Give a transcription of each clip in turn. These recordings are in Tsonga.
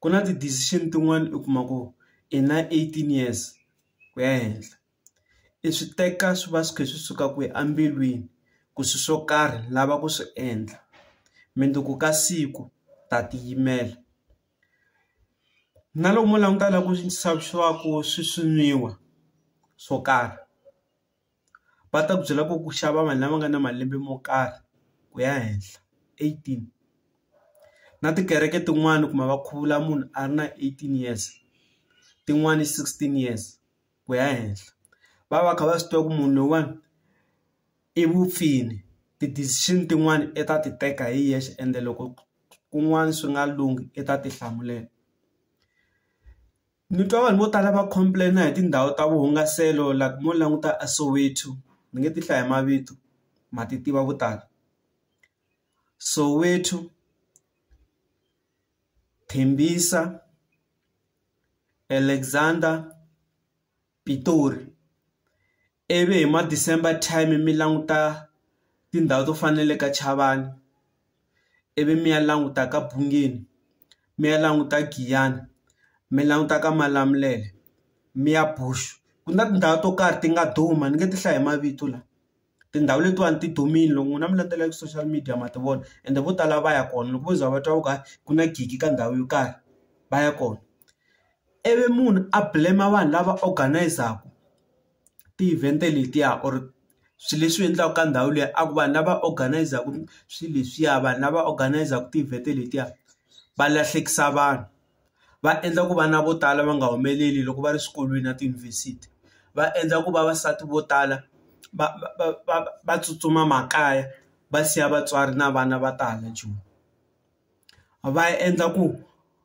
ku na ti decision tin'wani u kuma ku i na eighteen years ku ya henhla i swi teka swi va swi kha swi suka kwihi embilwini ku swi swo karhi lava ku swi endla mundzuku ka siku ta ti yimela na lomu langutaka ku swilo swo karhi. va ta ku byela ku ku xava vanhu lava nga na malembe mo karhi ku ya henhla eighteen na tikereke tin'wani u kuma va khuvula munhu a ri na eighteen years tin'wani sixteen years ku ya henhla va va kha va swi tiva ku munhu loyiwani i mupfini ti-decision tin'wani i ta ti teka hi yexe ende loko kun'wana swi nga lunghi i ta ti hlamulela. Ni twa vanhu vo tala va complain-a hi tindhawu ta vuhungaselo like mo languta a Soweto ni nge ti hlayi mavito ma ti tiva vo tala Soweto, Tembisa, Alexandra, Pitori Ivi hi ma December time mi languta tindhawu to fana na le ka Chavani ivi mi ya languta ka Bungeni mi ya languta Giyani mi languta ka Malamulele mi ya Bush ku na tindhawu to karhi ti nga duma ni nge ti hlayi hi mavito la tindhawu letiwani ti dumile loko n'wina mi landzela ka social media ma ti vona ende vo tala va ya kona loko vo za va twa ku ku na gidi ka ndhawu yo karhi va ya kona. ivi munhu a blame vanhu lava organise-aka ti-event letiya or swilo leswi endliwaka ka ndhawu liya a ku vanhu lava organise-aka swilo leswiya vanhu lava organise-aka ti-event letiya va lahlekisa vanhu va endla ku vana vo tala va nga humeleli loko va ri swikolweni na tiyunivhesiti va endla ku vavasati vo tala va va va va tsutsuma makaya va siya vatswari na vana va ta hala joni. va endla ku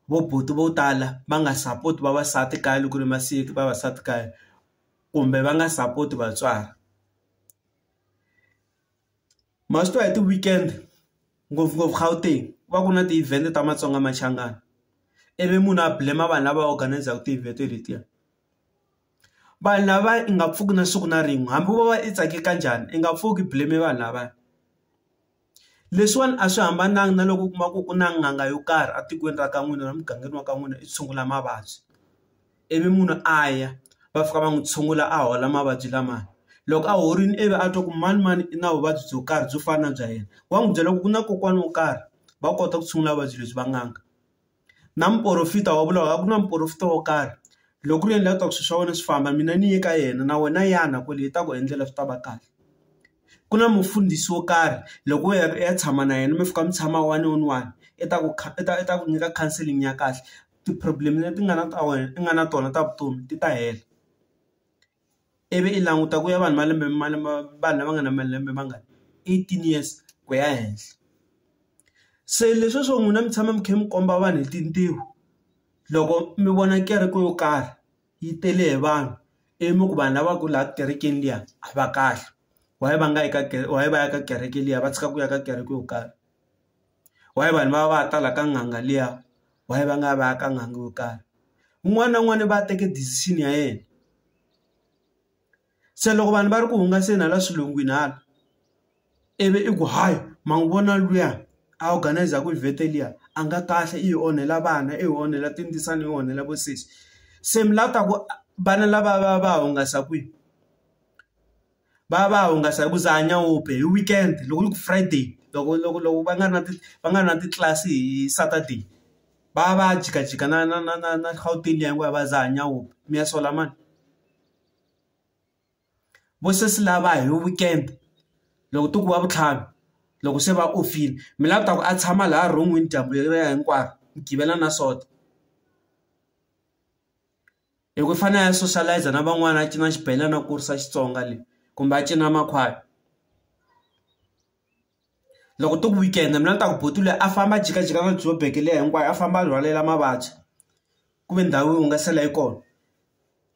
vo buti vo tala va nga sapoti vavasati kaya loko ku ri masiku vavasati kaya kumbe va nga sapoti vatswari ma swi tiva hi ti-weekend ngopfungopfu Gauteng ku va ku na ti-event ta Matsonga Machangani ivi munhu a blame vanhu lava organise-ku ti-event letiya vanhu lava i nga pfuki na siku na rin'we hambi wo va i tsake ka njhani i nga pfuki blame vanhu lavaya. Leswiwani a swi hambananga na loko u kuma ku ku na n'anga yo karhi etikweni ra ka n'wina na mugangeni wa ka n'wina i tshungula mavabyi ivi munhu a ya va fika va n'wi tshungula a hola mavabyi lama loko a horile ivi a twa ku manimani i na vuvabyi byo karhi byo fana na bya yena wa n'wi byela ku ku na kokwana wo karhi va kota ku tshungula vuvabyi lebyi va n'anga. na muporofita wa vula ku na muporofita wo karhi loko ku ri yena la ku swilo swa wena swi famba mina ni ye ka yena na wena yana kwale i ta ku endlela swi ta va kahle ku na mufundhisi wo karhi loko wo ya u ya tshama na yena mi fika mi tshama one on one i ta ku i ta i ta ku nyika counseling ya kahle ti-problem leti nga na ta wena i nga na tona ta vutomi ti ta hela. ivi i languta ku ya vanhu va lembe ma lembe vanhu lava nga na malembe ma nga eighteen years ku ya henhla se leswiya swo n'wina mi tshama mi kha mi komba vanhu hi tintiho loko mi vona kereke yo karhi yi tele hi vanhu ivi mi ku vanhu lava ku laha kerekeni liya a va kahle why va nga yi ka why va ya ka kereke liya va tshika ku ya ka kereke yo karhi. why vanhu va va tala ka n'anga liya why va nga va ya ka n'anga yo karhi un'wana na un'wana va teke decision ya yena se loko vanhu va ri ku hungaseni hala swilungwini hala ivi i ku hayi ma n'wi vona luya a organizer ku event-e liya a nga kahle i hi onhela vana i hi onhela tindzisana i hi onhela vo sesi se mi la ta ku vana lava va va hungasa kwihi. va ya va ya hungasa hi ku dzaha nyaope hi weekend loko yi ku Friday loko loko loko va nga ri na ti va nga ri na titlilasi hi Saturday va ya va ya jikajika na na na na na Gauteng liya hinkwavo va dzaha nyaope mi ya sola mani vo sesi lava hi weekend loko ti ku va vutlhanu loko se va ofini mi lava ku ta ku a tshama laha ron'wini dyambu leriya hinkwaro mi givela na sota. Loko i fanele a ya socialize na van'wana a cina xibelani a kurisa Xitsonga le kumbe a cina makhwaya loko ti ku weekend mina ni ta ku buti loyi a famba a jikajika ka joburg leyi hinkwayo a famba a rhwalela mavabyi ku ve ndhawu yo hungasela yi kona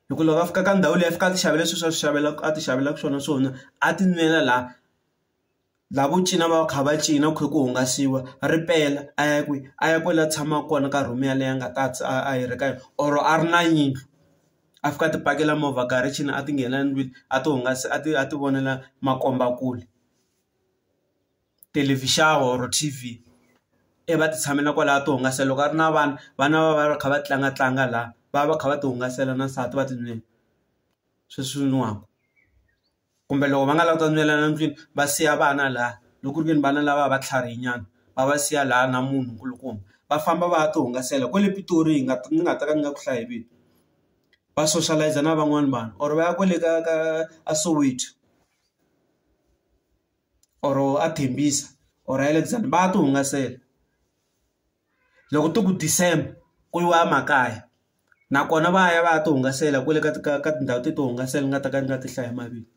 loko loko a fika ka ndhawu leyi a fika a ti xavela sweswi a swi xavela a ti xavelaka swona swona a ti nwela laha laha vo cina va va kha va cina ku kha ku hungasiwa ripela a ya kwihi a ya kwale a tshamaka kona ka room yaleyo a nga ta a hirhe ka yona or a ri na yindlu a fika a ti pakela movha garage-ini a ti nghena ndlwini a ti hungasa a ti a ti vonela makombakule thelevhixini or T_V ivi va ti tshamela kwalaya a ti hungasa loko a ri na vana vana va va va kha va tlanga tlanga laha va va va kha va ti hungasela na nsati va ti sweswi nwiwaka. kumbe loko va nga lavi ku ta nwelana ndlwini va siya vana laha loko ku ri ke ni vana lava va tlharihini nyana va va siya laha na munhu nkulukumba va famba va ya ti hungasela kwale Pitori hi nga ni nga ta ka ni nga ku hlaya hi vito va soshalayiza na van'wani vanhu or va ya kwale ka ka a Soweto or a Tembisa or Alexandra va ya ti hungasela. loko ti ku December ku yiwa emakaya nakona va ya va ya ti hungasela kwale ka ka ka tindhawu to tihungasela ni nga ta ka ni nga ti hlayi mavito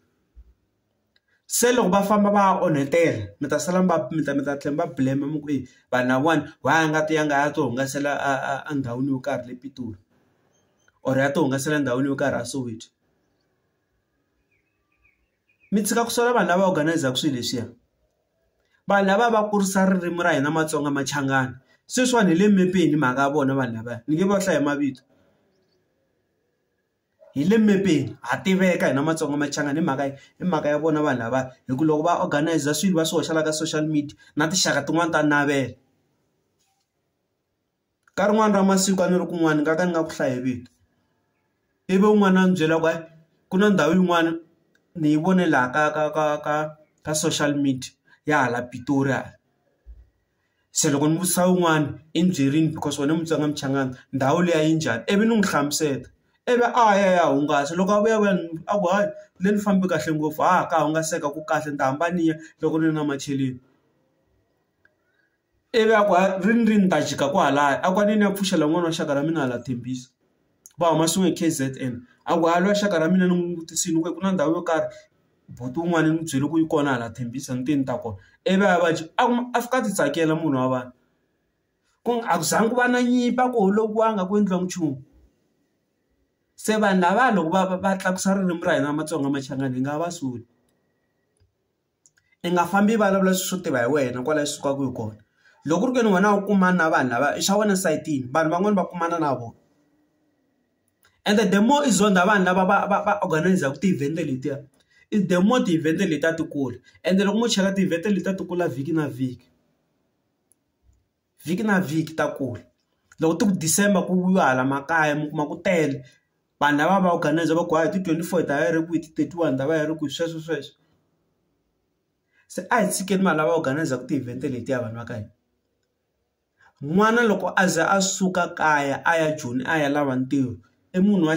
se loko va famba va ya onhetela mi ta sala mi va mi ta mi ta tlhela mi va blame mi ku eyi vanhu lavawani why a nga ti ya nga ya ti hungasela a ndhawini yo karhi le Pitori or ya ti hungasela endhawini yo karhi a Soweto. mi tshika ku sola vanhu lava organise-aka swilo leswiya vanhu lava va kurisa ririmi ra hina matsonga machangani sweswiwani hi le mepeni mhaka ya vona vanhu lavaya ni nge va hlaya mavito hi le mepeni ha tiveka hina matsonga machangani hi mhaka hi mhaka ya vona vanhu lavaya hi ku loko va organise swilo va swi hoxela ka social media na tinxaka tin'wani ta navela. ka rin'wani ra masiku a ni ri kun'wani ni nga ka ni nga ku hlayi vito ivi un'wana a ni byela ku ku na ndhawu yin'wani ni yi vone laha ka ka ka ka ka social media ya hala Pitori hala se loko ni vutisa un'wani i ni byerini because wena Mutsonga Muchangana ndhawu liya yi njhani ivi ni n'wi hlamusela ivi a ya a ya hungasa loko a vuya a vuya a ku hayi le ni fambe kahle ngopfu ha ka hungaseka ku kahle ni ta hamba ni ya loko ni ri na macheleni. ivi a ku ri ni ri ni ta jika kwalaya a ku a ni ni ya pfuxela n'wana wa xaka ra mina hala Tembisa va huma swin'we hi K_Z_N a ku a lwa xaka ra mina ni n'wi vutisini ku ku na ndhawu yo karhi buti wun'wani ni byele ku yi kona hala Tembisa ni te ni ta kona ivi a va dyi a kuma a fika a ti tsakela munhu wa vanhu ku nga a ku zanga ku va na nyimpi a ku holoviwanga a ku endliwa nchumu se vanhu lava loko va va va tlakusa ririmi ra hina Matsonga Machangani hi nga va soli. i nga fambi i vulavula swilo swo tiva hi wena kwala i sukaka hi kona loko ku ri ke ni wena u kumana na vanhu lava i xa wena sayitini vanhu van'wani va kumana na vona and the more i zonda vanhu lava va va va organise-ku ti-event letiya i the more ti-event letiya ti kula ende loko mo cheka ti-event letiya ti kula vhiki na vhiki. vhiki na vhiki ta kula loko ti ku December ku yiwa hala makaya mi kuma ku tele vanhu lava va organise va ku hayi hi ti twenty four hi ta va hi ri kwihi hi ti thirty one hi ta va hi ri kwihi sweswo sweswo se a hi tshikeni vanhu lava organise-aka ti-event letiya vanhu va ka hina n'wana loko a ze a suka kaya a ya joni a ya lava ntirho i munhu wa .